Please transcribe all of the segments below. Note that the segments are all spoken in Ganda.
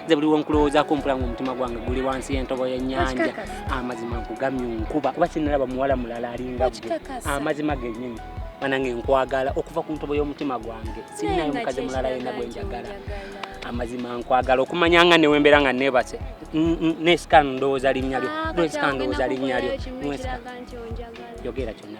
nze buli wenkulowoozaako mpula nga omutima gwange guli wansi yentobo yenyanja amazima nkugamye nkuba kuba sinalaba muwala mulala alinga gwe amazima genyini banange nkwagala okuva ku ntobo y'omutima gwange sinayo mukazi mulala yena gwe njagala amazima nkwagala okumanya nga newembera nga nebase nesika ndowooza linnya lyo nesika ndowooza linnya lyo yogera kyonna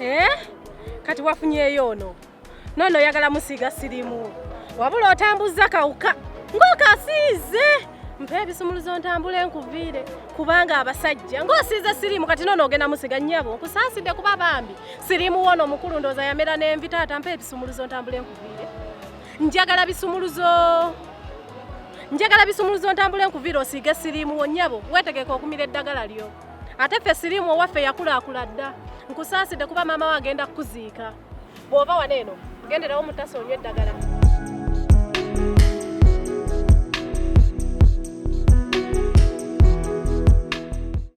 Eh? Kati wafunyeyo ono nono oyagala musiiga sirimu wabula otambuzza kawuka ng'okasiize mpa ebisumuluzo ntambule nkuviire kubanga abasajja ng'osiize sirimu kati nono ogenda musiga nyabo nkusaasidde kuba bambi sirimu wono omukulu ndooza yamera n'envi taata mpa ebisumuluzo ntambule nkuviire njagala bisumuluzo njagala bisumuluzo ntambule nkuviira osiige siriimu wonyabo wetegeka okumira eddagala lyo ate ffe siriimu owaffe yakulaakula dda nkusaasidde kuba maama we agenda kukuziika bw'oba wano eno genderawo mutasa onywa eddagala